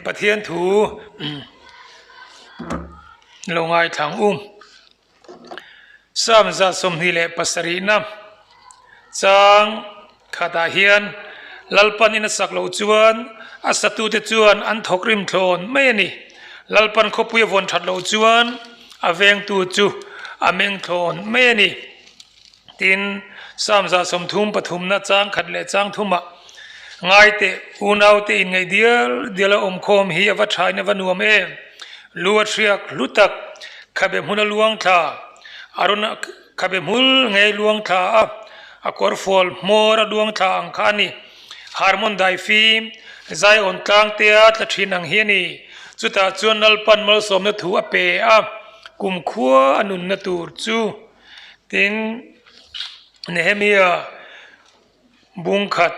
Pathian thu lo ngaithlang u. Psalm zat sawmhnih leh pasarihna chang khatah hian Lalpan in a sak loh chuan a satute chuan an thawk rim thlawn mai a ni. Lalpan khawpui a vawn that loh chuan a vengtu chu a meng thlawn mai a ni. Tin, Salm zahsawmthum pathumna changkhat leh changthuma ngaite unaute inngeih dial diala awmkhawm hi a va thain a va nuam em. Lu a hriak hlutak, khabe hmun a luang thla, a rawn khabe hmul ngei luang thla a, a kawrfual hmawr a luang thla ang kha a ni. Harmon dai fim, Zion tlangtea tla thin ang hi a ni. Chutah chuan nalpan malsawmna thu a pe a, kum khua a nunna tur chu. Tin, Nehemia bungkhat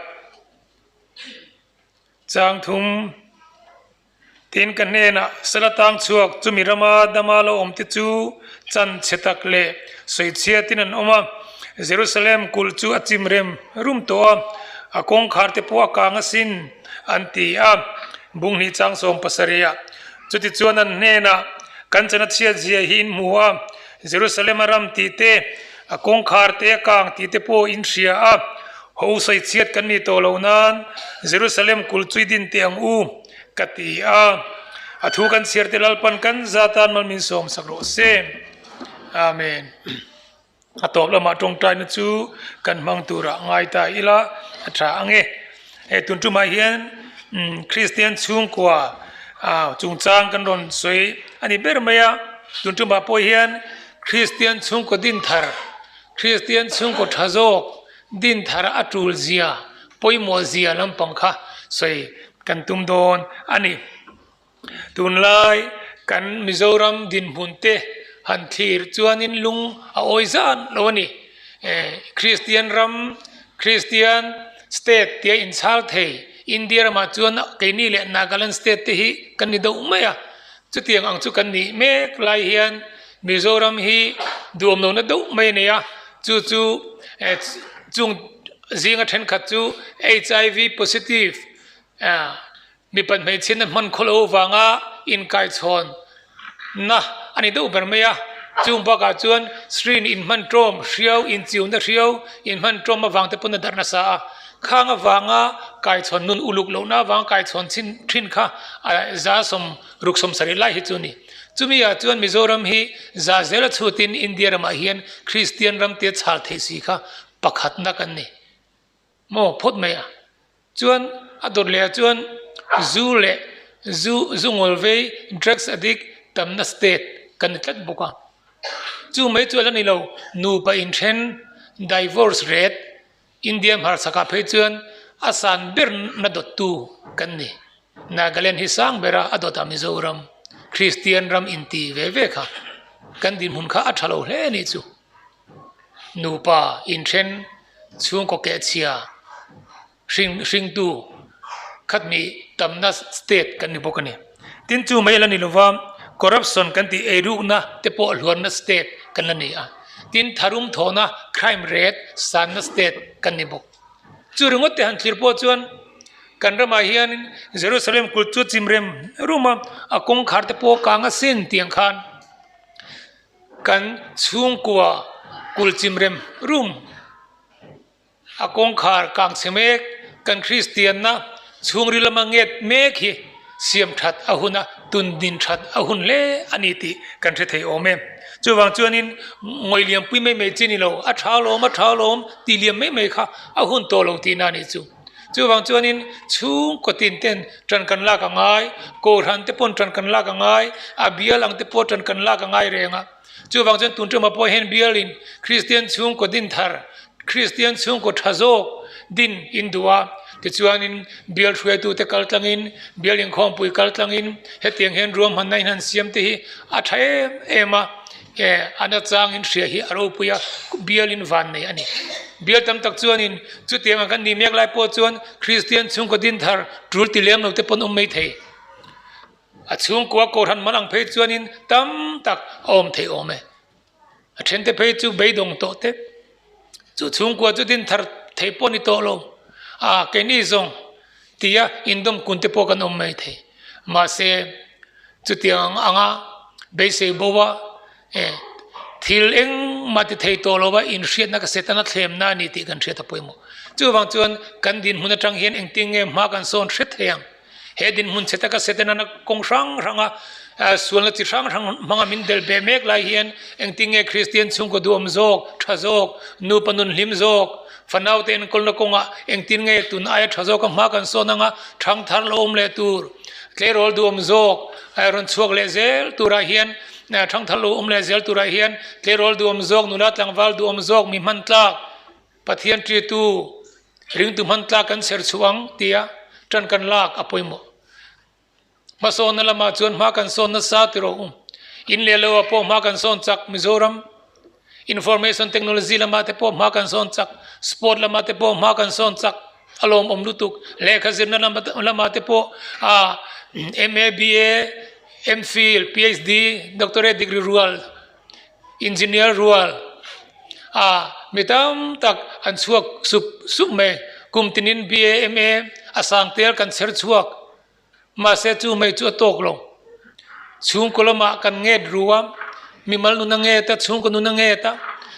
changthum tin ka hnenah sala tang chhuak chumi rama dama lo awmte chu chanchhe tak leh sawichhiatin an awm a. Jerusalem kulh chu a chim rem rum tawh a, a kawngkharte pawh a kang asin, an ti a, bunghnih chang sawm pasarih ah. Chutichuan an hnenah, Kan chana chhiat zia hi in hmu a. Jerusalema ram tih te, a kawngkhar te, a kang tih te pawh in hria a, Haw u sawichhiat kan ni tawh lo nan Jerusalem kul chu i din teh ang u, ka ti a, a thu kan chhiar te lalpan kan za tan mal min sawm sak rawh se. Amen. A tawp lamah tawngtaina chu kan hmang turah ngai ta ila a tha ang e. He tun tumah hian Kristian chhungkua chungchang kan rawn sawi a ni ber mai a, tun tumah pawh hian Kristian chhungkaw din thar, Kristian chhungkaw tha zawk din thar a tul zia, pawimawh zia lampang kha sawi kan tum dawn a ni. Tunlai kan Mizoram dinhmun te han thlir chuanin lung a awi zan lo a ni. Kristian ram, Kristian state tia inchhal thei India ramah chuan keini leh Nagaland state te hi kan ni deuh mai a. Chutiang ang chu kan nih mek lai hian Mizoram hi duam lo na deuh mai a nei a. Chu chu chung zinga thenkhat chu HIV positive. Mipat hmeichhian na hman khaw lo vanga inkaichhawn na a ni deuh ber mai a, chung bakah chuan Sri-in inhman tawm hriau, inchiuna hriau, inhman tawm avang te pawh na darh nasa a, khang avanga kaichhawn nun uluk lohna avanga kaichhawn chhin thin kha a za sawm ruk sawm sarih lai hi chu a ni. Chumi ah chuan Mizoram hi za zel a chhut in India ramah hian Kristian ram tia chhal thei si kha pakhat nak an ni. maw phawt mai a, chuan a dawt leh ah chuan zu leh zu zu ngawl vei drugs addict tamna state kan ni tlat bawk a, chu mai chu a la ni lo, nupa in then divorce ret India hmarhsak ah phei chuan a san ber na dawt tu kan ni, Nagaland hi sang ber a, a dawt ah Mizoram Kristian ram in ti ve ve kha kan dinhmun kha a tha lo hle a nih chu. Nupa inhren chhungkaw kehchhia hring hringtu khat hnih tamna state kan ni bawk a ni tin chu mai a la ni lova corruption kan tih eirukna te pawh hluanna state kan la ni a tin tharum thawhna crime rate sanna state kan ni bawk chu ringawtte han thlir pawh chuan kan ramah hianin Jerusalem kut chu chim rem rum a a kawngkhar te pawh kanga sin tiang khan. Kan chhungkua kul chim rem rum, a kawngkhar kang chhe mek, kan Kristianna chhungril lama nget mek hi siam that a hun a, tun din that a hun hle a ni tih kan hre thei awm e. Chuvang chuanin ngawi lianpui mai mai che ni lo, a tha lawm a tha lawm, ti lian mai mai kha a hun tawh lo tihna a nih chu. Chuvang chuanin chhung kawtin ten ṭan kan lak a ngai, kawl han te pawn ṭan kan lak a ngai, a bial ang te pawh ṭan kan lak a ngai reng a. Chuvang chuan tun ṭawma pawh hian bialin Kristian chhungkaw din thar, Kristian chhungkaw ṭha zawk din in duh a. Tichuanin bial hruaitute kaltlangin, bial inkhawmpui kaltlangin hetiang hian ruahmanna inhan siam te hi a ṭha em em a. He an achangin hria hi a ropui a, bialin van nei a ni. Bial tam tak chuanin chuti anga kan nih mek lai pawh chuan Kristian chhungkaw din thar tul ti lem lote pawn awm mai thei. A chhungkua kohhran man ang phei chuanin tam tak a awm thei awm e. A thente phei chu beidawng tawh te. Chu chhungkua chu din thar thei pawh a ni tawh lo. A, kei ni zawng? tia indawm kun te pawh kan awm mai thei. Mahse, chutiang anga beisei boa e, thil engmahte thei tawh lova inhriatna ka set a, na thlemna a ni tih kan hriat a pawimawh. Chuvang chuan kan dinhmun atang hian engtin nge hma kan sawn hre thei ang? He dinhmun che taka se te nana kawng hrang hranga sualna chi hrang hrang hmanga min belh be mek lai hian engtin nge Kristian chhungkaw duhawm zawk, tha zawk, nupa nun hlim zawk, fanaute en kawlna kawnga engtin nge tun aia tha zawka hma kan sawn anga thang thar lo awm leh tur, tleirawl duhawm zawk, rawn chhuak leh zel turah hian thang thar lo awm leh zel turah hian tleirawl duhawm zawk, nula tlangval duhawm zawk, mi hman tlak. Pathian ṭitu ringtu hmantlak kan ser chhuah ang tia ṭan kan lak a pawimawh. Hmasawnna lamah chuan hma kan sawn nasa ti rawh u. In leh loah pawh hma kan sawn chak, Mizoram Information Technology lamah te pawh hma kan sawn chak, Sport lamah te pawh hma kan sawn chak a lawm awm lutuk. Lehkha zirna lamah te pawh MA, BA, MPhil, PhD, Doctorate degree rual engineer rual a mi tam tak an chhuak sup sup mai kum tin in B A M A a sang tel kan chher chhuak mahse chu hmei chu a tawk lo chhungkaw lama kan nget ru a mi mal nuna nget a chhungkaw nuna nget a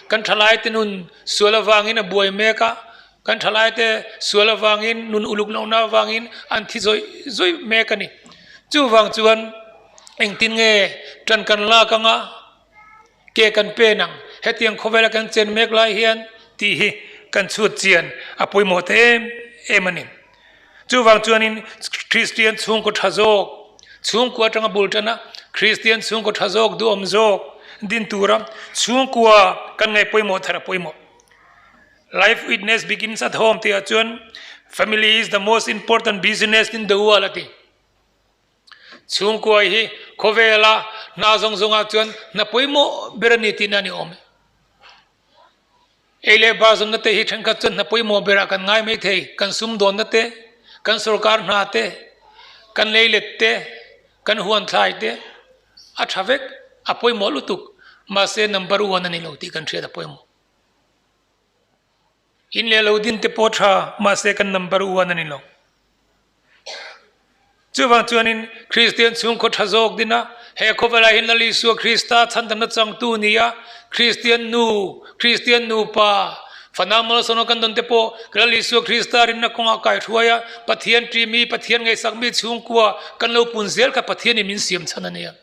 kan tha lai te nun sual avang in a buai mek a kan tha lai te sual avang in nun uluk lohna avang in an thi zawih zawih mek a ni chuvang chuan. Engtin nge ṭan kan lak anga ke kan pen ang? Hetiang khawvela kan chen mek lai hian tih hi kan chhutchian a pawimawhte em em a ni. Chuvang chuanin Kristian chhungkaw ṭha zawk, chhungkua aṭanga bul ṭana Kristian chhungkaw ṭha zawk duhawm zawk din tura chhungkua kan ngaihpawimawh thar a pawimawh. Life witness begins at home tihah chuan family is the most important business tin Deual a ti. Chhungkuai hi khawvela hna zawng zawngah chuan hna pawimawh ber a ni tihna a ni awm e. Ei leh bar zawmna te hi thenkhat chuan hna pawimawh berah kan ngai maithei, kan sumdawnna te, kan sorkar hna te, kan leilet te, kan huanthlai te a tha vek, a pawimawh lutuk, mahse number one a ni lo tih kan hriat a pawimawh. In leh lo din te pawh tha mahse kan number uan a ni lo. Chuvang chuanin Kristian chhungkaw tha zawk dina he khawva laiin Lal Isua Krista chhantamna changtu nia Kristian nu, Kristian nupa, fana malsawna kan dawnte pawh ka Lal Isua Krista rinna kawngah kai hruai a Pathian ṭihmi, Pathian ngaihsakmi chhungkua kan lo pun zel kha Pathianin min siamchhan a nia.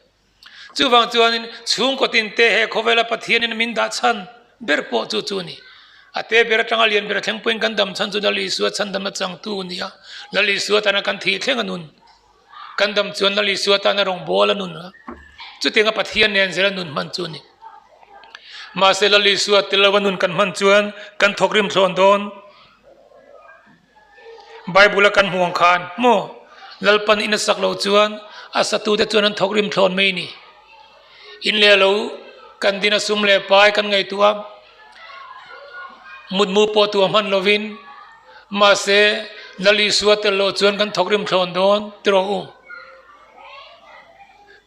Chuvang chuanin chhungkawtin te he khawvela Pathianin min dah chhan ber pawh chu chu ni. A te ber atanga lian ber a thleng pawhin kan dam chhan chu Lal Isua chhandamna changtu a ni a. Lal Isua tana kan thih thleng a nun. Kan dam chuan Lal Isua tana rawngbawl a nun a. Chutianga Pathian nen zela nun hman chu ni. Mahse Lal Isua tilo a nun kan hman chuan kan thawk rimthlawn dawn. Bible-a kan hmuh ang kha an hmu. Lalpan in a sak lo chuan a satute chuan an thawk rim thlawn mai a ni. In leh lo kan din a sum leh pai kan ngaihtuah a, mutmu pawh tua hman lovin mahse Lal Isua tel lo chuan kan thawk rim thlawn dawn ti rawh u.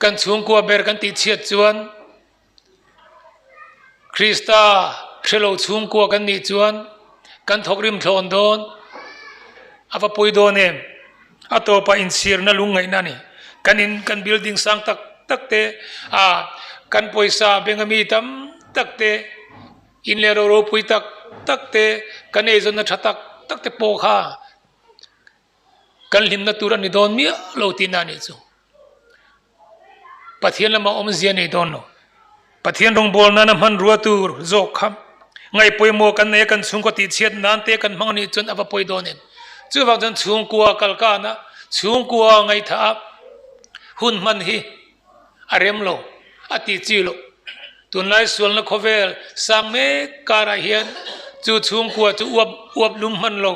Kan chhungkua ber kan tihchhiat chuan Krista hrelo chhungkua kan nih chuan kan thawk rimthlawn dawn a va pawi dawn em? A tawpah inchhirna lungngaihna ni. Kan in, kan building sang tak tak te, aa, kan pawisa benga mi tam tak te, in leh roro pui tak tak te, kan eizawnna tha tak tak te pawh kha Kan hlimna tur a ni dawn miah lo tihna nih chu Pathian lamah awmzia nei dawn lo. Pathian rawngbâwl nâna hmanrua tur zawk kha ngaihpawimawh kan nei a, kan chhungkaw tihchhiat nân te kan hmang nih chuan a va pawi dawn em? Chuvâk chuan chhungkua kal kânah, chhungkua ngaihthahah hun hman hi A rem lo, a ti chi lo. Tunlai sualna khawvel sang mek karah hian chu chhungkua chu uap uap lum hman lo,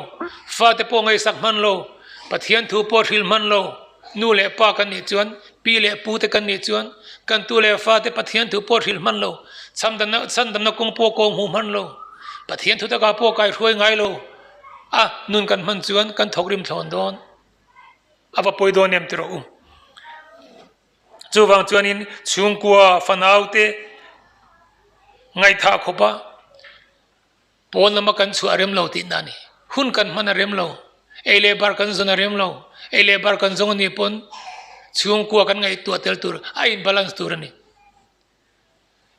fate pawh ngaihsak hman lo, Pathian thu pawh hril hman lo. Nu leh pa kan nih chuan, pi leh pu te kan nih chuan, kan tu leh fa te Pathian thu pawh hril hman lo, chhandamna chhandamna kawng pawh kawng hmu hman lo, Pathian thu takah pawh kaihhruai ngai lo. A nun kan hman chuan kan thawk rim thlawn dawn. a va pawi dawn em ti rawh u. Chuvang chuanin chhungkua fanaute ngaithah khawpa pawn lama kan chhuah rem lo tihna a ni. Hun kan hman a rem lo, ei leh bar kan zawn a rem lo, ei leh bar kan zawng a nih pawn chhungkua kan ngaihtuah tel tur a inbalance tur a ni.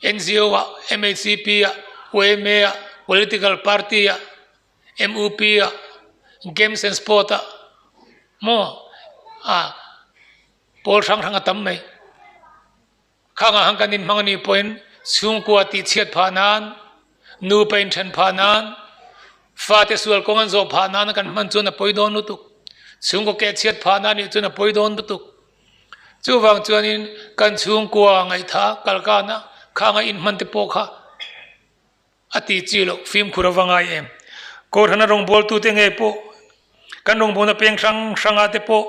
NGO-a, MHCP-a, UMA-a, Political Party-a, MUP-a, Games and Sport-a maw a pawl hrang hrang a tam mai. Khangah han kan inhmang anih pawhin chhungkua tih chhiat phah nan, nupa inthen phah nan, fate sual kawng an zawh phah nan kan hman chuan a pawi dawn lutuk. Chhungkaw ke chhiat phah nan nih chuan a pawi dawn lutuk. Chuvang chuanin kan chhungkua ngaihthah a kalkana khangaih inhman te pawh kha a ti chi lo, fimkhur a va ngai em? Kawrhana rawngbawltute nge pawh kan rawngbawlna peng hrang hranga te pawh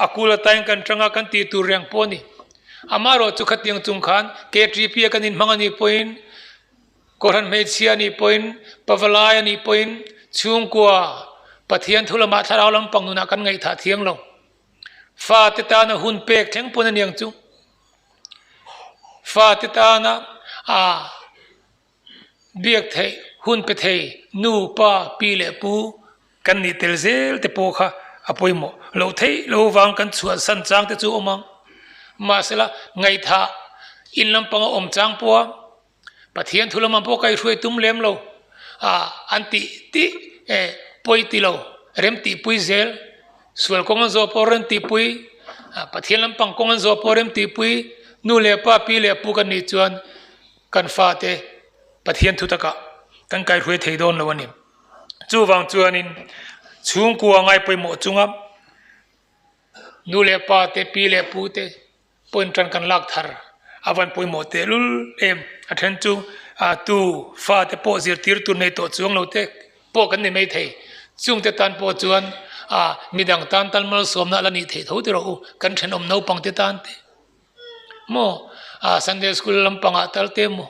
a kul atain kan tanga kan ti tur reng pawh a ni. Amaherawh chu khatiang chung khan KTP a kan inhmang a nih pawhin, kawrhan hmeichhia a nih pawhin, pavalai a nih pawhin chhungkua Pathian thulamah thlarau lam pangnunah kan ngaihthah thiang lo. Fate tana hun pek thleng pawn a niang chu. Fate tana aa biak theih hun pe thei nu, pa, pi leh pu kan nih tel zel te pawh kha a pawimawh loh theih lo avang kan chhuan san chang te chu a awm ang. Mahsela ngaihthah in lampanga awm chang pawha Pathian thu lamah pawh ka i hruai tum lem lo a an ti tih e, pawi ti lo, remtihpui zel, sual kawng an zawh pawh remtihpui, Pathian lampang kawng an zawh pawh remtihpui, nu leh pa, pi leh pu kan nih chuan kan fate Pathian thu takah kan kaihruai thei dawn lo a ni. Chuvang chuanin chhungkua ngaipawimawh chunga nu leh pate, pi leh pute, Pawn tan kan lak thar a van pawimawh tehlul em a then chu tu fate pawh zirtirtu nei tawh chuang lo te pawh kan ni mai thei chungte tan pawh chuan midang tan tal malsawmna a la nih theih tho tiraw u kan thenawm naupangte tan te maw Sunday school lampangah talte maw.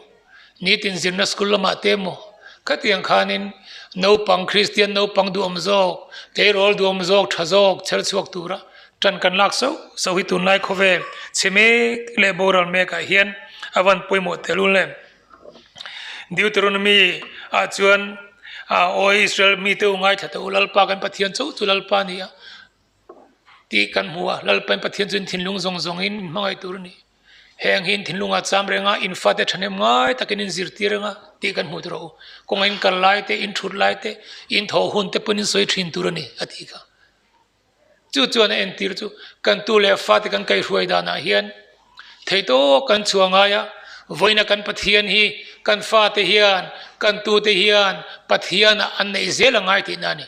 Nitin zirna school lamah te emaw khatiang khanin naupang Kristian naupang duhawm zawk, tleirawl duhawm zawk tha zawk chher chhuak tura tan kan lak sauh sauh hi tunlai khawve chhe mek leh boral mekah hian a van pawimawh tel un le. Deuteronomy ah chuan Aw Israel mite u ngaithla tawh u, Lalpa kan Pathian chauh chu Lalpa a ni a tih kan hmu a, Lalpa in Pathian chuan thinlung zawng zawngin min hmangaih tur a ni. heng hi in thinlung ah cham reng a in fa te thahnem ngai tak in in zir tir reng a tih kan hmuh tur a awm kawng a in kal lai te in thut lai te in thaw hun te pawh in sawi thin tur a ni a ti kha chu chuan a en tir chu kan tu leh fa te kan kai hruai dan ah hian thei to kan chhuah ngai a vawiina kan pathian hi kan fa te hian kan tu te hian pathian ah an nei zel a ngai tih na ni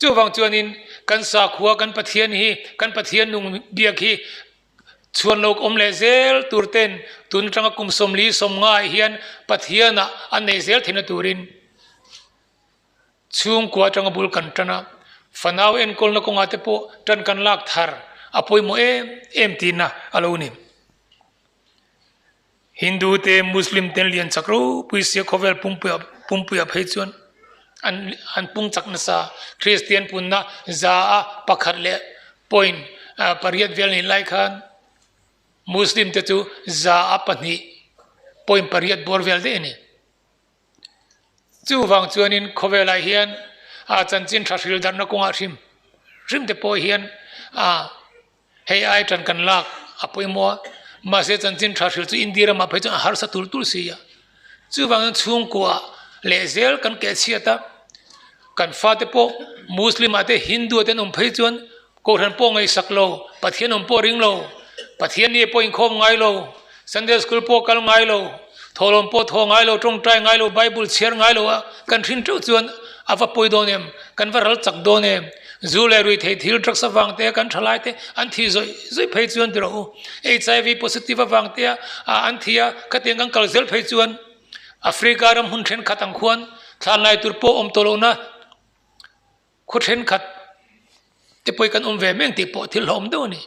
Chuvang chuanin kan sakhua, kan Pathian hi, kan Pathian nung biak hi chhuan lawk awm leh zel turte'n tun atanga kum sawmli sawmngai hian Pathiana an nei zel theihna turin chhungkua atanga bul kan tan a, fanau enkawlna kawngah te pawh tan kan lak thar a pawimawh em em tina a lo ni. Hindu te Muslim ten lian chak ropui sia khawvel pumpuia pumpuia phei chuan an an pung chak nasa Kristian punna za a pakhat leh point pariat vel nih lai khan Muslim te chu za a pahnih point pariat bawr vel daih a ni. Chuvang chuanin khawvelai hian a chanchin tha hril darhna kawngah hrim hrim te pawh hian a hei ai tan kan lak a pawimawh a, mahse chanchin tha hril chu India ramah phei chuan a harsa tul tul si a, chuvangin chhungkuah leh zel kan keh chhiat a, kan fate pawh Muslim-ah te Hindu-ah te an awm phei chuan, Kohhran pawh ngaih sak lo, Pathian awm pawh ring lo, Pathian nih pawh inkhawm ngai lo, Sunday School pawh kal ngai lo, thawhlawm pawh thaw ngai lo, tawngtai ngai lo, Bible chhiar ngai lo a kan hrin teuh chuan a va pawi dawn em? Kan va ral chak dawn em? Zu leh rui thei thil, drugs avangte, kan tha lai te an thi zawih zawih phei chuan ti rawh u. HIV positive avangte a an thi a, khatiang kan kal zel phei chuan Africa ram hmun thenkhat ang khuan thlan laitur pawh awm tawh lohna, Khaw thenkhat te pawhin kan awm ve meng tih pawh thil hlawhawm deuh a ni.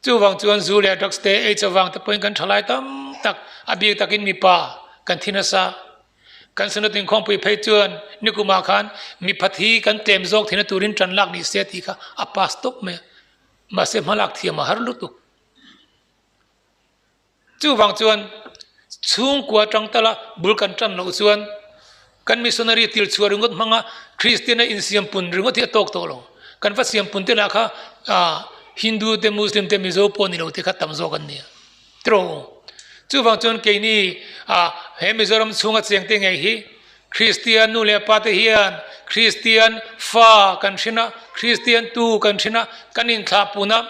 Chuvang chuan Zu leh Drugs te Aids avang te pawhin kan thalai tam tak a bik takin mipa kan thi nasa. Kan Sunatin Khawngpui phei chuan nikumah khan miphat hi kan tlem zawk theihna turin tan lak ni se tih kha a pass tawp mai a, mahse hmalak thiamah har lutuk. Chuvang chuan chhungkua tangtala bul kan tan loh chuan kan missionary tilchhuah ringawt hmanga Kristiana insiampun ringawt hi a tawk tawh lo. Kan va siampunte lah kha Hindu te, Muslim te, Mizo pawh ni lo te kha tam zawk an nia. Tiraw? Chuvang chuan keini he Mizoram chhunga chengte ngei hi Kristian nu leh pate hian Kristian fa kan hrin a, Kristian tu kan hrin a, kan inthlah pun a,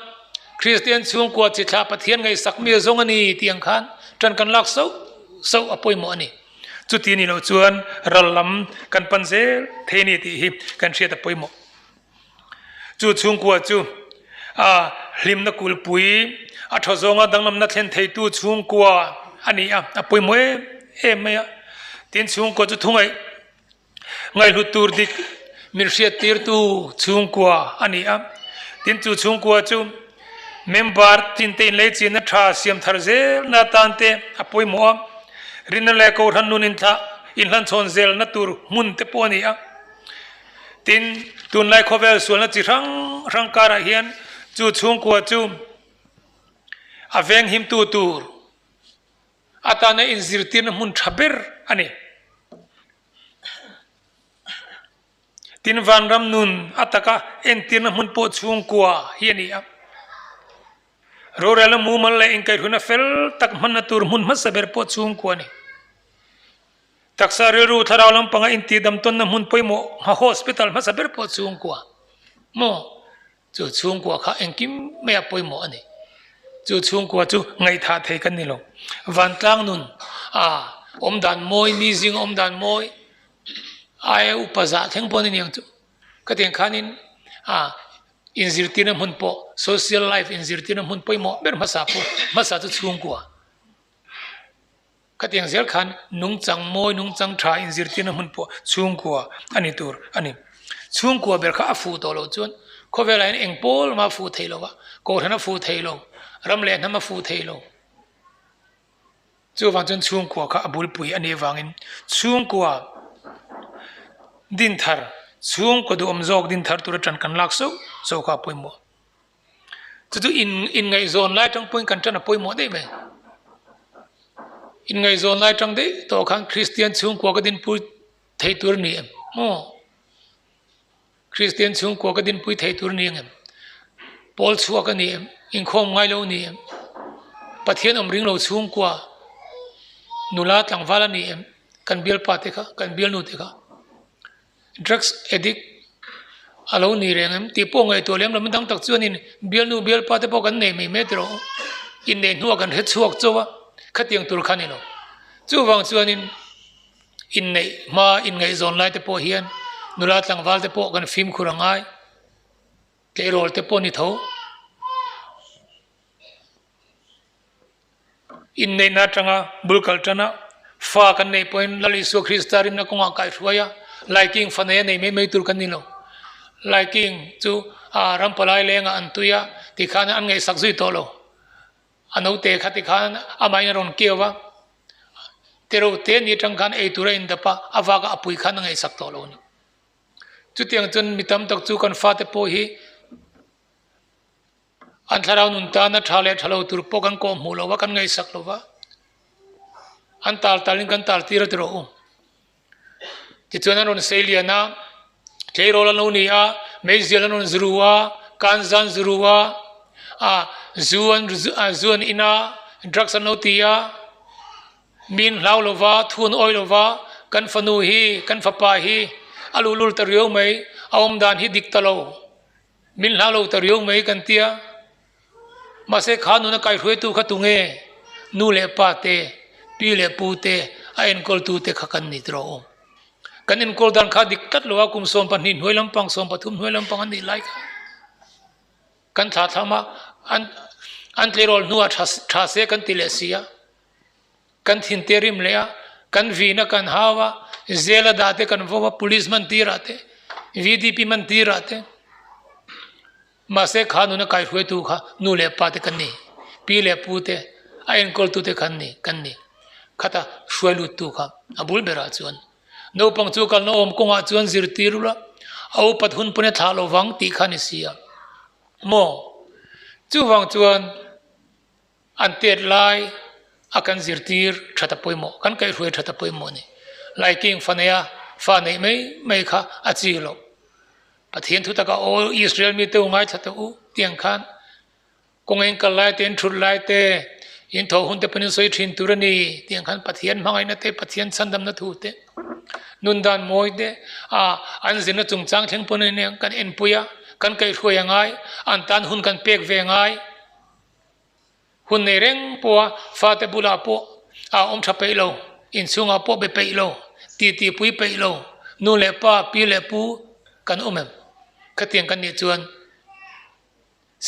Kristian chhungkua chi thlah Pathian ngaihsak mi zong a ni tih ang khan tan kan lak sauh sauh a pawimawh a ni. Chuti ni loh chuan ral lam kan pan zel thei a ni tih hi kan hriat a pawimawh. Chu chhungkua chu a hlimna kulpui, a thaw zawnga danglamna thlen theitu chhungkua a ni a, a pawimawh em em mai a. Tin, chhungkua chu thungaih ngaihhlut tur dik min hriat tirtu chhungkua a ni a. Tin, chu chhungkua chu member tlinte inlei chinna tha siam thar zelna atante a pawimawh a, rinna leh kohhran nun inhlan chhawn zelna tur hmun te pawh a ni a. Tin, tunlai khawvel sualna chi hrang hrang karah hian chu chhungkua chu a venghimtu tur atana inzirtirna hmun tha ber a ni. Tin, vanram nun a taka entirna hmun pawh chhungkua hi a ni a. Rorelna mumal leh inkaihruihna fel tak hmanna tur hmun hmasa ber pawh chhungkua a ni. Taksa rilru thlarau lampanga intihdamtawnna hmun pawimawh Hma Hospital hmasa ber pawh chhungkua maw? Chu chhungkua kha engkim maia pawimawh a ni. Chu chhungkua chu ngaihthah thei kan ni lo. Vantlang nun a awmdan mawi, mi zing a awmdan mawi aia upa zah thleng pawh a ni ang chu. Khatiang khanin a inzirtirna hmun pawh, social life inzirtirna hmun pawimawh ber hmasa pawh, hmasa chu chhungkua. Khatiang zel khan nungchang mawi, nungchang tha in zirtirna hmun pawh chhungkua a ni tur a ni. Chhungkua ber kha a fuh tawh loh chuan khawvel aiin eng pawl lama fuh thei lo a, kohhran a fuh thei lo, ram leh hnam a fuh thei lo. Chuvang chuan chhungkua kha a bulpui a nih avangin chhungkua din thar, chhungkua duhawm zawk din thar tura tan kan lak sauh sauh kha a pawimawh. Chutu in inngaihzawn lai atang pawhin kan ṭan a pawimawh daih mai. Inngaihzawn lai atang daih tawh khan Kristian chhungkua ka dinpui thei tur ni em? Maw? Kristian chhungkua ka dinpui thei tur ni ang em? Pawl chhuak a ni em? Inkhawm ngai lo a ni em? Pathian awm ring lo chhungkua nula tlangval a ni em? Kan bialpate kha, kan bialnute kha. Drugs addict a lo ni reng em? Tih pawh ngaihtuah lem lo, mi dang tak chuan in bialnu bialpa te pawh kan nei mai mek tilo, innei hnua kan hre chhuak chauh a, khatiang tur khan ilo. Chuvang chuanin inneih hma inngaihzawn lai te pawh hian nula tlangval te pawh kan fimkhur a ngai, tleirawl te pawh ni tho. Inneihna atanga bul kal tan a, fa kan neih pawhin Lal Isua Krista rinna kawngah kaihhruai a Laiking fanei a nei mai mai tur kan ni lo. Laiking chu aa ram palai lengah an tui a tikhan an ngaihsak zui tawh lo. A naute kha tikhan amah in a rawn keu a, terote ni atang khan eitur a indap a, a vakah a pui khan a ngaihsak tawh lo a ni. Chutiang chuan mi tam tak chu kan fate pawh hi An thlarau nun tana tha leh thalo tur pawh kan kawh hmuh lo a, kan ngaihsak lo va, an tal talin kan tal tir ati rawh u. Tichuan an rawn sei lian a, tleirawl an lo ni a, meizial an rawn zuru a, kanza an zuru a, a zu zu an in a, drugs an lo ti a, mi an hlau lo va, thu an awih lo va, kan fanu hi, kan fapa hi a luhlul ta riau mai, a awmdan hi dik ta lo Min hla lo ta riau mai kan tia, mahse kha nuna kaihruaitu kha tunge nu leh pa te, pi leh pu te, a enkawl tu te kha kan ni tirh awm. Kan enkawl dan kha dik tlat lo a, kum sawm pahnih hnuai lampang, sawm pathum hnuai lampang an nih lai kha. Kan thlathlam a, an tleirawl hnu a tha se kan ti leh si a. kan thin te rim leh a kan vin a kan hau a zela dah te kan vawm a police man tir ah te vdp man tir ah te mahse kha nuna kaihruai tu kha nu leh pa te kan ni pi leh pu te a enkawl tu te khan ni kan ni khata hruai lut tu kha a bul ber ah chuan naupang chu kalna awm kawng ah chuan zir tir ula a upat hun pawn e thlah lo vang tih kha ni si a maw chuvang chuan An pet lai a kan zirtir tha ta pawimawh, kan kaihhruai tha ta pawimawh ni. Laikeng faneia fa neih mai mai kha a chi loh. Pathian thu taka aw, Israel mi teu ngaithla teh u tiang khan kawng eng kal laite, eng thut laite, in thaw hunte pawn in sawi thin tur a ni tiang khan Pathian hmangaihna te, Pathian chhandamna thu te, nun dan mawi te, aah an zirna chungchang thleng pawhin kan enpui a, kan kaihhruai a ngai, an tan hun kan pek ve ngai. Hun nei reng pawha fate bulah pawh aa awm tha peih lo, inchhungah pawh be peih lo, titipui peih lo, nu leh pa, pi leh pu kan awm em? Khatiang kan nih chuan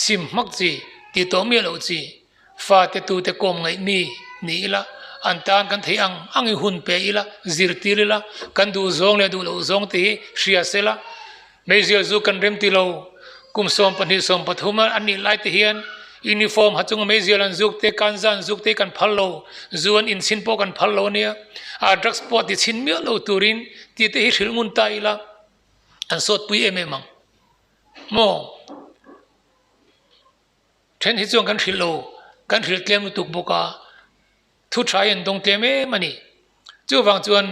sim hmak chi, ti tawh miah loh chi, fate tute kawm ngaih mi ni ila, an tan kan thei ang ang i hun pe ila, zirtir ila, kan duh zawng leh duh loh zawng te hi hria sela, Meizial chu kan rem ti lo. Kum sawm pahnih sawm pathum a nih lai te hian uniform ha chunga meizial an zuk te, kanza an zuk te kan phal lo, zu an in chhin pawh kan phal lo ania. A drugs pawh ti chhin miah lo turin ti te hi hril ngun ta ila an sawtpui em em ang maw? Then hi chuan kan hrilh lo, kan hrilh tlem lutuk bawk a, thu tha a en dawng tlem em a ni. Chuvang chuan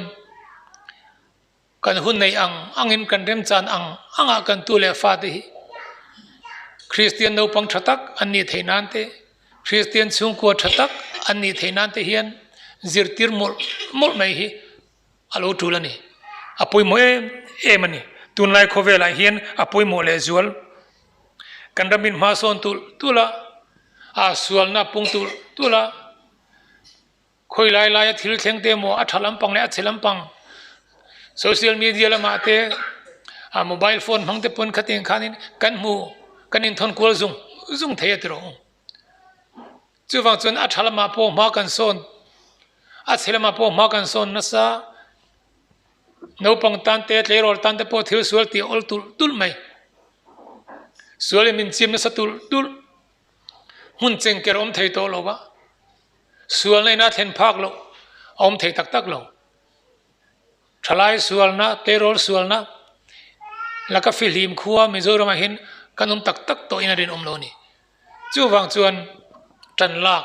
Kan hun nei ang angin kan remchan ang anga kan tu leh fate hi Kristian naupang tha tak an ni thei nan te, Kristian chhungkua tha tak an ni thei nan te hian zirtir mawlh mawlh mai hi a lo tul a ni. A pawimawh em em a ni. Tunlai khawvelah hian a pawimawh lehzual kan ram inhmasawn tulh tulh a, aa sualna pung tulh tulh a. Khawi lai laia thil thleng te emaw a tha lampang leh a chhe lampang social media lamah te a mobile phone hmang te pawn khatin khanin kan hmu kan inthawn kual zung zung thei a ti rawh chuvang chuan a tha lamah pawh hma kan sawn a chhe lamah pawh hma kan sawn nasa naupang tan te tleirawl tan te pawh thil sual tih awl tulh tulh mai sual in min chim nasa tulh tulh hmun chengker awm thei tawh lo va. Sualnaina thlen phak loh a awm thei tak tak lo. Thalai sualna, payroll sualna, laka fi hlim khua Mizoramah hin kan awm tak tak tawhin a rinawm lo a ni. Chuvang chuan tanlak,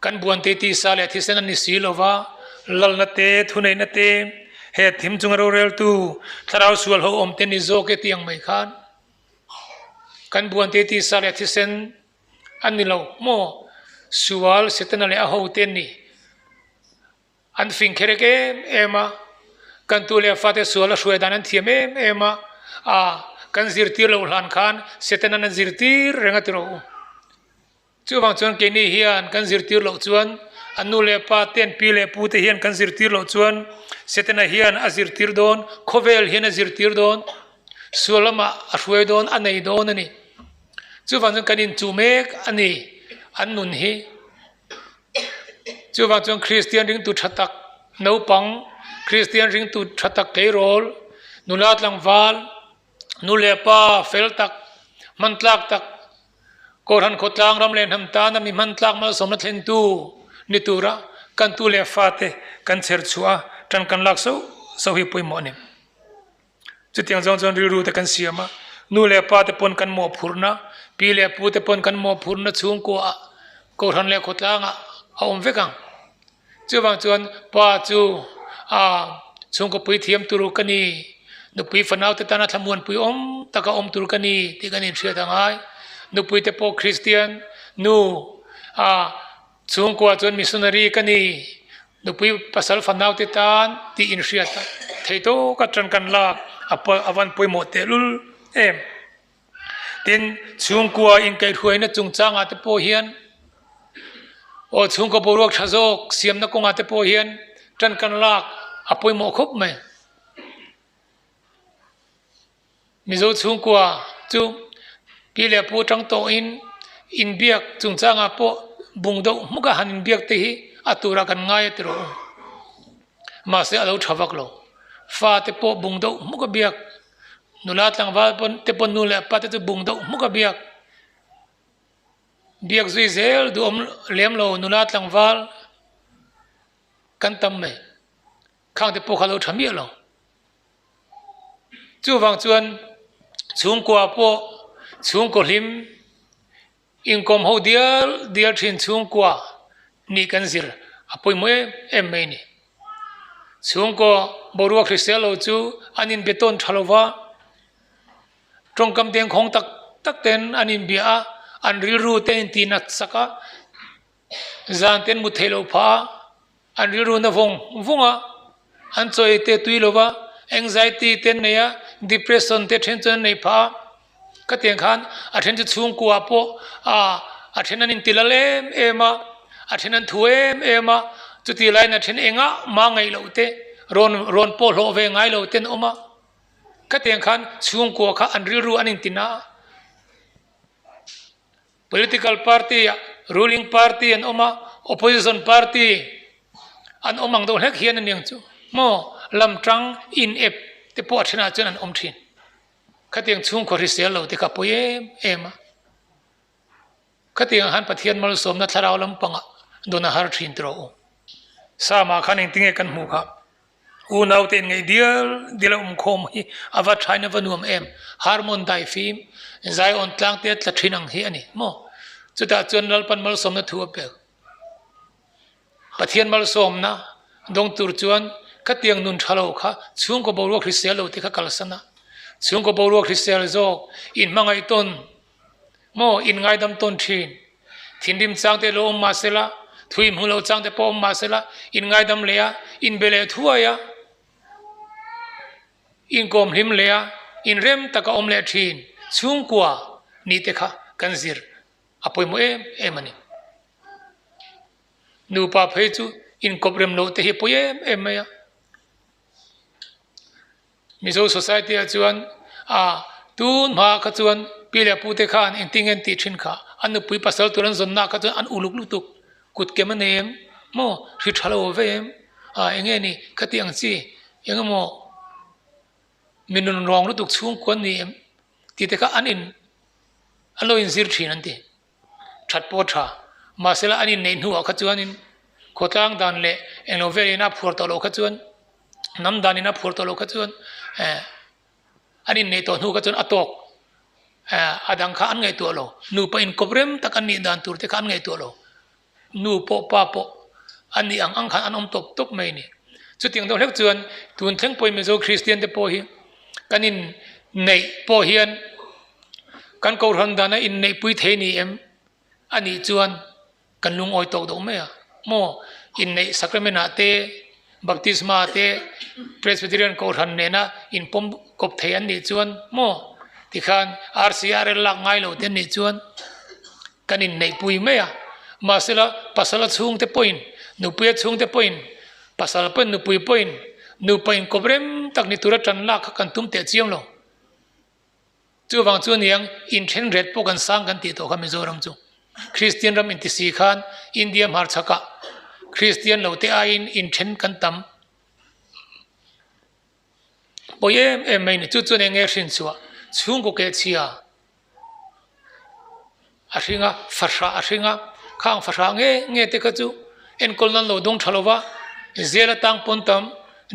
kan buante tisa leh thisen an ni si lova, lalna te, thuneihna te, he thim chunga roreltu thlarau sual haw awmte ni zawk e tih ang mai khan kan buante tisa leh thisen a ni lo maw? Sual Setana leh a hote nih an fing kherek em em a, kan tu leh fate sual a hruaidan an thiam em em a, ah kan zirtir lo hlan khan Setana na zirtir reng a ti rawh u. Chuvang chuan keini hian kan zirtir loh chuan a nu leh pa te, an pi leh pu te hian kan zirtir loh chuan Setana hian a zirtir dawn, khawvel hian a zirtir dawn, sual lamah a hruai dawn, a nei dawn a ni. Chuvang chuan kan in chu mek a ni. An nun hi chuvang chuan Kristian ringtu tha tak naupang, Kristian ringtu tha tak keirawl, nula tlangval, nu leh pa fel tak, hmantlak tak, kawlhan khawtlang ram leh hnam tana mi hmantlak malsawmna thlentu ni tura kan tu leh fate kan chherchhuah a tan kan lak sauh sauh hi pawimawh a ni. Chutiang zawng chuan rilru te kan siam a, nu leh pa te pawn kan mawhphurhna, pi leh pu te pawn kan mawhphurhna chhungkua ah kohhran leh khawtlang ah a awm vek ang. Chuvang chuan pa chu a chhungkawpui thiam tur ka ni, nupui fanau te tana thlamuanpui awm tak a awm tur ka ni tih kan inhriat angai. Nupui te pawh Kristian nu a. Chhungkua chuan missionary ka ni, nupui pasal fanaute tan tih inhriat thei tawk atang kan lak a van pawimawh tehlul em. Tin, chhungkua inkaihhruaina chungchangah te pawh hian, aw chhungkua boruak tha zawk siamna kawngah te pawh hian tankan lak a pawimawh khawp mai. Mizo chhungkua chu pi leh pu atang tawhin inbiak chungchangah pawh bung deuh hmukah han inbiak te hi a turah kan ngai a ti rawh u. Mahse a lo tha vak lo. Fa te pawh bung deuh hmuk a biak. Nula tlangval pawn te pawn nu leh pa te chu bung deuh hmuk a biak. Biak zui zel duh awm lem lo nula tlangval kan tam mai. Khang te pawh kha a lo tha miah lo. Chuvang chuan chhungkua pawh chhungkaw hlim inkawm ho dial dial thin chhungkua hnih kan zir a pawimawh em em mai ni. Chhungkaw boruak hrisel lo chu an inbe tawn tha lova, tawngkam dengkhawng tak tak ten an inbia a, an rilru ten inti natsak a. zan ten mut theih loh phah a, an rilru na vawng vawng a an chawi te tui lo va, anxiety te an nei a, depression te then chuan an nei phah a, ka tiang khan a then chu chhungkua ah pawh aa a then an inti lal em em a, a then an thu em em a, chuti laiin a then engah mah ngaih loh te, rawn rawn pawh hlawh ve ngai lo te an awm a, khatiang khan chhungkua kha an rilru an inti na a. Political party ah ruling party an awm a, opposition party an awm ang deuh hlek hian a ni ang chu. Maw? Lam tang inep te pawh a thenah chuan an awm thin. Khatiang chhungkaw hrisel lo te ka pawi em em a. Khatiang ah khan Pathian malsawmna thlarau lampangah dawn a har thin tawh u. Sama khan engtinge kan hmu kha? Unaute in ngei dial dial a awm khawm hi a va thain a va nuam em? Harmon dai fim, Zion tlangte tla thin ang hi a ni maw? Chutah chuan Lalpan malsawmna thu a pek. Pathian malsawmna dawng tur chuan khatiang nun tha lo kha chhungkaw boruak hrisel lo te kha kalsan a, chhungkaw boruak hrisel zawk inhmangaih tawn maw in ngaidam tawn thin. Thinrim changte lo awm mahsela, thu inhmu lo changte pawh awm mahsela, in ngaidam leh a, in be leh thuai a, in kawm hlim leh a, in rem taka awm leh thin chhungkua ni te kha kan zir a pawimawh em em a ni. Nupa phei chu inkawp rem loh te hi a pawi em em mai a. Mizo society-a chuan, Ah, tun hma kha chuan Pi leh Pu te khan engtin nge an tih thin kha, an nupui pasal tur an zawnnaah kha chuan an uluk lutuk, kut kem a nei em? Maw? Hri tha lo ve em? Ah, eng nge ni? Ka tih ang chi, engemaw mi nun ruang lutuk chhungkua an ni em? Tih te kha an in, an lo inzir thin an ti. that pawh tha. Mahsela an inneih hnuah kha chuanin khawtlang dan leh englo velin a phuar tawh loh kha chuan, hnam danin a phuar tawh loh kha chuan an inneih tawh hnu kha chuan a tawk a dang kha an ngaihtuah lo. Nupa inkawp rem tak an nih dan turte kha an ngaihtuah lo. Nu pawh pa pawh an nih ang ang khan an awm tawp tawp mai a ni. Chutiang deuh hlek chuan tun thleng pawimawh zo Kristian te pawh hi kan inneih pawh hian kan kohhran dana inneihpui thei ni em? A nih chuan kan lungawi tawk deuh mai a. Maw inneih sacrament ah te, baptisma ah te Presbyterian kohhran nena inpawm kawp thei an nih chuan maw tikhan RCRL lak ngai lo te an nih chuan. Kan inneihpui mai a, mahsela pasala chhungte pawhin, nupuia chhungte pawhin, pasal pawhin, nupui pawhin, nupa inkawp rem tak ni tura tan lak kha kan tum teh chiam lo. Chuvang chuan niang inthenret pawh kan sang kan tih tawh kha Mizoram chu. Kristian ram intisi khan India hmarchhakah Kristian lo te aiin inthen kan tam. pawi em em mai ni chu chuan eng nge hrin chhuah chhungkaw ke chhia a hring a fahrah a hring a khang fahrah nge nge te kha chu enkawl nan lo dawng tha lo va zel atang pawn tam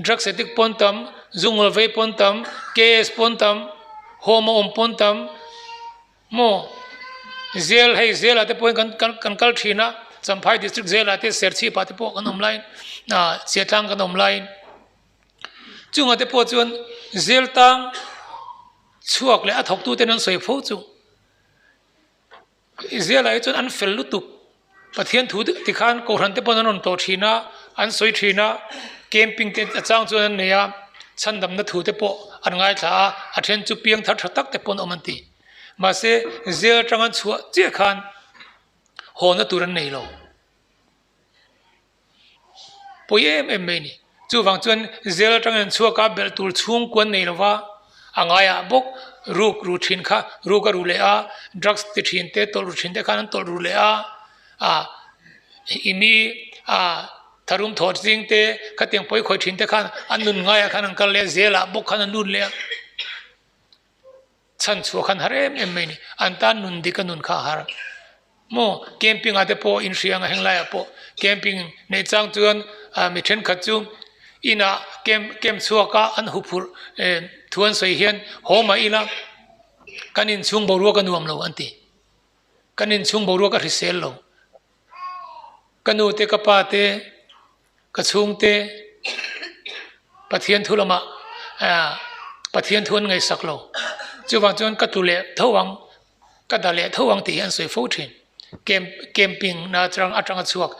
drugs addict pawn tam zungraw vei pawn tam KS pawn tam home a awm pawn tam maw zel hei zelah te pawhin kan kan kan kal thin a champhain district zela te serchhip ah te pawh kan awm laiin ahh chhiah tlang kan awm laiin. Chungate pawh chuan Zeltang chhuak leh a thawktute an sawi pho chu. Zela hi chuan an fel lutuk. Pathian thu deuh tikhan Kohhran-te pawh an rawn tawh thin a, an sawi thin a, camping te a chang chuan an nei a, chhandamna thute pawh an ngaithla a, a then chu piang thar tha takte pawh an awm an ti. Mahse, zel aṭanga chhuah chiah khan haw na tur an nei lo. pawi em em mai a ni. Chuvang chuan zêl aṭanga in chhuak a, belh tûr chhûngkuan nei lo va, a ngaiah bawk rûk rû ṭhin kha rûk a rû leh a, drugs ti ṭhin te, tawlh rû ṭhin te khan an tawlh rû leh a, ah i mi ah tharum thawt zing te, khatiang pawi khawih ṭhin te khan an nun ngaiah khan an kal leh a, zêlah bawk khan an nun leh a. Chhan chhuah khan har em em mai ni. An tan nun dik a nun kha a har. Maw camping ah te pawh in hria anga heng lai ah pawh camping neih chang chuan mi thenkhat chu inah camp camp chhuak a an hu phurh thu an sawi hian hawm a ila kan in chhung boruak a nuam lo an ti. Kan in chhung boruak a hrisel lo. Ka nu te ka pa te. Ka chhungte Pathian thu lamah Pathian thu an ngaihsak lo. Chuvang chuan ka tlu leh tho ang, ka da leh tho ang tih hi an sawi fo thin. Camp, camping na chang atanga chhuak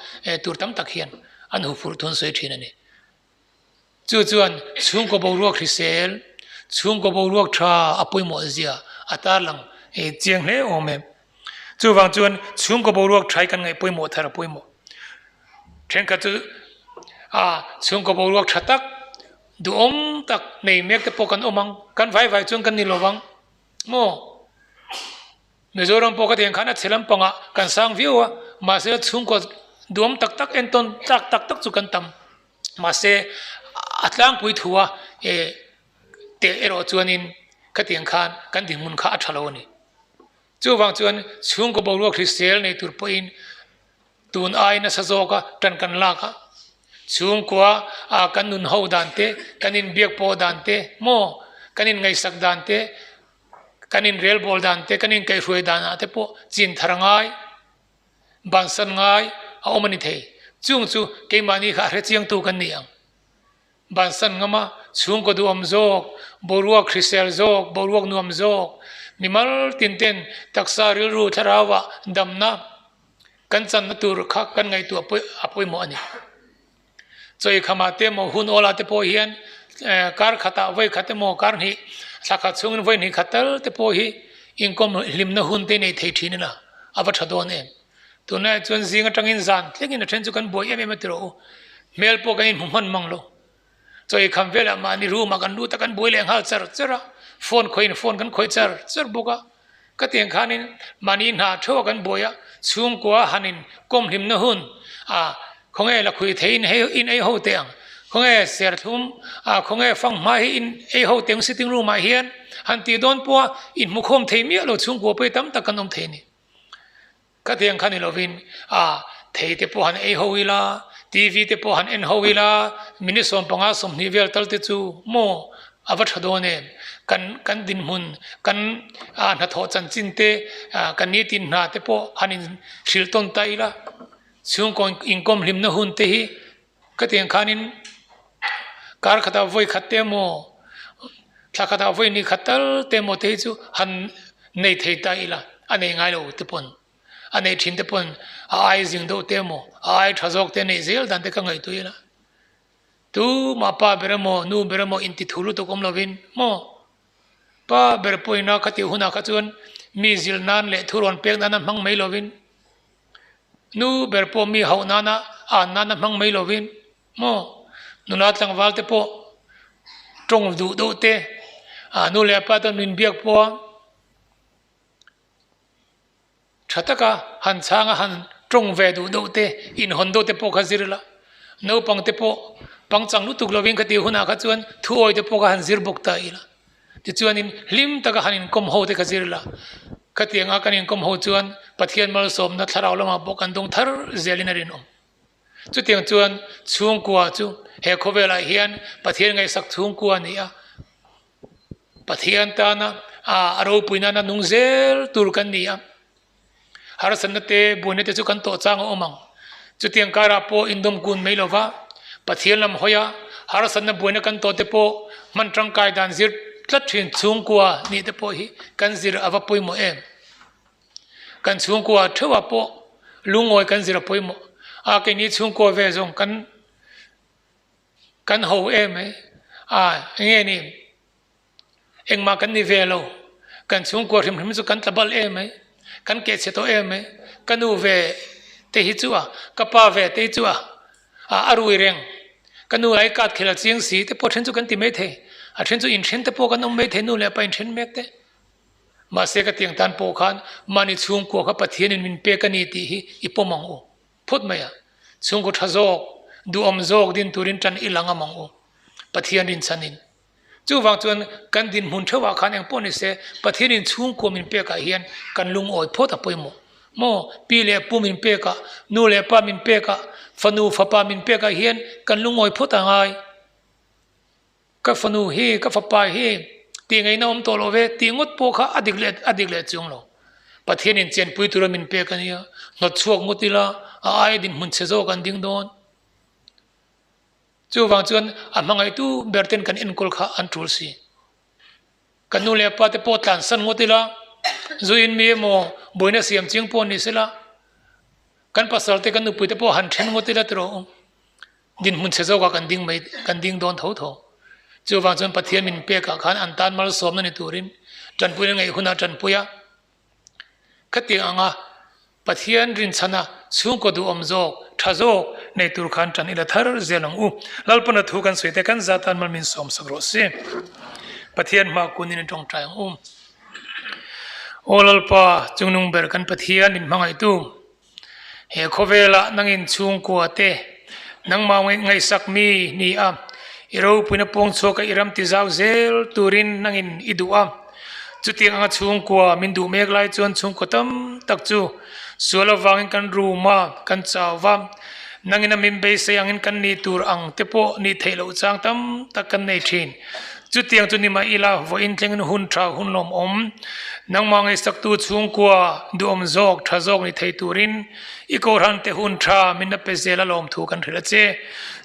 tur tam tak hian an hu phurh thun sawi thin a ni. Chu chuan chhungkaw boruak hrisel, chhungkaw boruak tha a pawimawh zia a tarlang chiang hle awm em. Chuvang chuan chhungkaw boruak thai kan ngaih pawimawh thar a pawimawh. Thenkhat chu a chhungkaw boruak tha tak, duhawm tak nei mek te pawh kan awm ang, kan vai vai chuan kan ni lo vang maw? Mizoram pawh khatiang khan a chhe lampanga kan sang viau a, mahse chhungkaw duhawm tak tak entawn tlak tak tak chu kan tam. Mahse a tlangpui thua e Teh erawh chuanin khatiang khan kan dinhmun kha a tha lo a ni. Chuvang chuan chhungkaw boruak hrisel nei tur pawhin tun ai nasa zawka tan kan lak a, chhungkua a kan nun ho dan te, kan inbiak pawh dan te maw, kan inngaihsak dan te, kan inrelbawl dan te, kan inkaihrue danah te pawh chin thar ngai, bansan ngai a awm a ni thei. Chung chu keimahni kha a hrechiangtu kan ni ang. Ban san ngam a, chhungkaw duhawm zawk, boruak hrisel zawk, boruak nuam zawk, mi mal tinte'n taksa rilru thlarauva damna kan channa tur kha kan ngaihtuah pawih a pawimawh a ni. Chawi khama te maw, hun awla te pawh hian kar khata vawi khat emaw, kar hnih thla khat chhungin vawi hnih khat tal te pawh hi inkawm hlimna hun te nei thei thin ila a va tha dawn em? Tunlaiah chuan zing atangin zan tlingin a then chu kan buai em em a ti rawh u. Hmel pawh kan in hmu hman mang lo. Chawi kham velah mahni room ah kan lut a kan buai leh nghal char char a, phone khawiin phone kan khawi char char bawk a. Ka tiang khanin mahni hna theuhah kan buai a, chhungkua hanin kawm hlimna hun a, khawnge la khuih thei in hei in ei ho teh ang, khawnge serthlum a, khawnge fanghma hi in ei ho teh ang sitting room ah hian han tih dawn pawh a, in hmukhawm thei miah lo chhungkua pawh hi tam tak kan awm thei a ni. Khatiang kha ni lovin a thei te pawh han ei ho ila, TV te pawh han en ho ila, min i sawm panga sawmhnih vel tal te chu maw a va tha dawn em? Kan kan dinhmun, kan a hnathawh chanchin te, kan nitin hna te pawh han in hrilh tawn ta ila, chhungkaw inkawm hlimna hun te hi, Ka tiang khanin kar khatah vawi khat te emaw, thla khatah vawi ni khat tal te emaw te hi chu han nei thei ta ila, a nei ngai lo te pawn, a nei thin te pawn a ai zing deuh te emaw, a ai tha zawk te nei zel dan te ka ngaihtuah ila. Tu mah pa ber emaw, nu ber emaw intithu lutuk awm lovin maw? Pa ber pawhin a ka tih hunah kha chuan mi zil nan leh thu rawn pek nana hmang mai lovin. Nu ber pawh mi hauh nana an nana hmang mai lo in maw nula tlangval te pawh tawng duh deuh te a nu leh a pa te an min biak pawh a tha taka han chhanga han tawng ve duh deuh te inhawn deuh te pawh kha zir ila naupang te pawh pangchang lutuk lovin kha ti hunah kha chuan thu awi te pawh kha han zir bawk ta ila. Tichuanin hlim taka han inkawm ho te ka zir la. Khatianga kan inkawm ho chuan Pathian malsawmna thlarau lamah pawh kan dawng thar zialin a rinawm. Chutiang chuan chhungkua chu he khawvelah hian Pathian ngaihsak chhungkua ni a, Pathian tana a ropuina nung zel tur kan ni a. Harsatna te, buaina te chu kan tawh chang a awm ang. Chutiang karah pawh indawm kun mai lova Pathian lam hawia harsatna buaina kan tawh te pawh hman tangkai dan zir tlat thin chhungkua hnih te pawh hi kan zir a va pawimawh em? Kan chhungkua theuhah pawh lungawi kan zir a pawimawh a, keini chhungkua ve zawng kan kan ho em mai a, enge ni? Engmah kan ni ve lo, kan chhungkua hrim hrim chu kan tla balh em mai, kan keh chhe tawh em mai, ka nu ve te hi chu a, ka pa ve te hi chu a, a rui reng, ka nu ai kat khel a chiang si te pawh a then chu kan ti mai thei, a then chu inthen te pawh kan awm mai thei nu leh pa inthen mek te. Mahse ka tiang tan pawh khan mahni chhungkua kha Pathianin min pek a ni tih hi i pawm ang u, phut mai a, chhungkua tha zawk, duhawm zawk din turin tan i lang a mang u, Pathian rinchhanin. Chuvang chuan kan dinhmun theuhah khan engpawh nise Pathianin chhungkua min pekah hian kan lungawi phawt a pawimawh maw? Pi leh pu min pekah, nu leh pa min pekah, fanu fapa min pekah hian kan lungawi phawt a ngai. Ka fanu hi, ka fapa hi tih ngaihna awm tawh love tih ngawt pawh kha a dik leh a dik leh chung lo. Pathianin chenpui tura min pek a nia, hnawtchhuak ngut ila a aia dinhmun chhe zawk an ding dawn. Chuvang chuan a hmangaihtu ber ten kan enkawl kha an tul si. Ka nu leh pa te pawh tlan san ngawt ila, zui in mi emaw buaina siam chiang pawh ni sela, kan pasal te kan nupui te pawh han then ngawt ila tiraw u. Dinhmun chhe zawkah kan ding mai, kan ding dawn tho tho. Chuvang chuan Pathian min pekah khan an tan malsawmna ni turin Tanpuia ngaih hunah Tanpuia Ka ti ang a, Pathian rinchhana chhungkaw duh awm zawk, tha zawk, nei tur khan tan ila thar zel ang u. Lalpanna thu kan sawi te kan za tan mal min sawm sak rawh si. Pathian hma kunin i tawngtai ang u. Aw Lalpa, chungnung ber kan Pathian inhmangaitu, He khawvela nang in chhungkua te, nang mau ngaih ngaihsak mi hni a, i ropuina pawng chhuak a i ram ti zau zel tur in nang in i duh a. Chu tiang anga chhungkua min duh mek lai chuan chhungkaw tam tak chu sual avang in kan rum a, kan chau va. Nang in a min beisei ang in kan nih tur ang te pawh nih theih loh chang tam tak kan nei thin. Chutiang chu ni mah ila, vawiin thlengin hun tha, hun lawm awm, nangmah ngaihsaktu chhungkua, duhawm zawk, tha zawk ni thei turin i kohhrante hun tha minna pe zela lawm thu kan hrilh a che.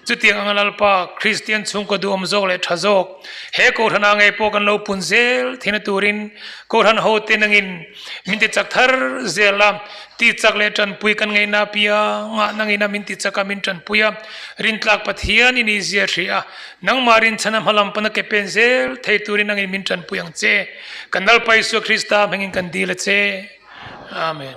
Chutiang anga Lalpa, Kristian chhungkaw duhawm zawk leh tha zawk, he kohhran ah ngei pawh kan lo pun zel thei na turin kohhran ho te nangin min ti chak thar zel a, ti chak leh tanpui kan ngaihna apia ngah nangin a min ti chak a, min tanpui a, Rintlak Pathian i nihzia hrih a, Nangmah rinchhana hma lam pana ke pen zel thei turin angin min tanpui ang che. Kan Lalpa Isua Krista hmingin kan dil a che. Amen.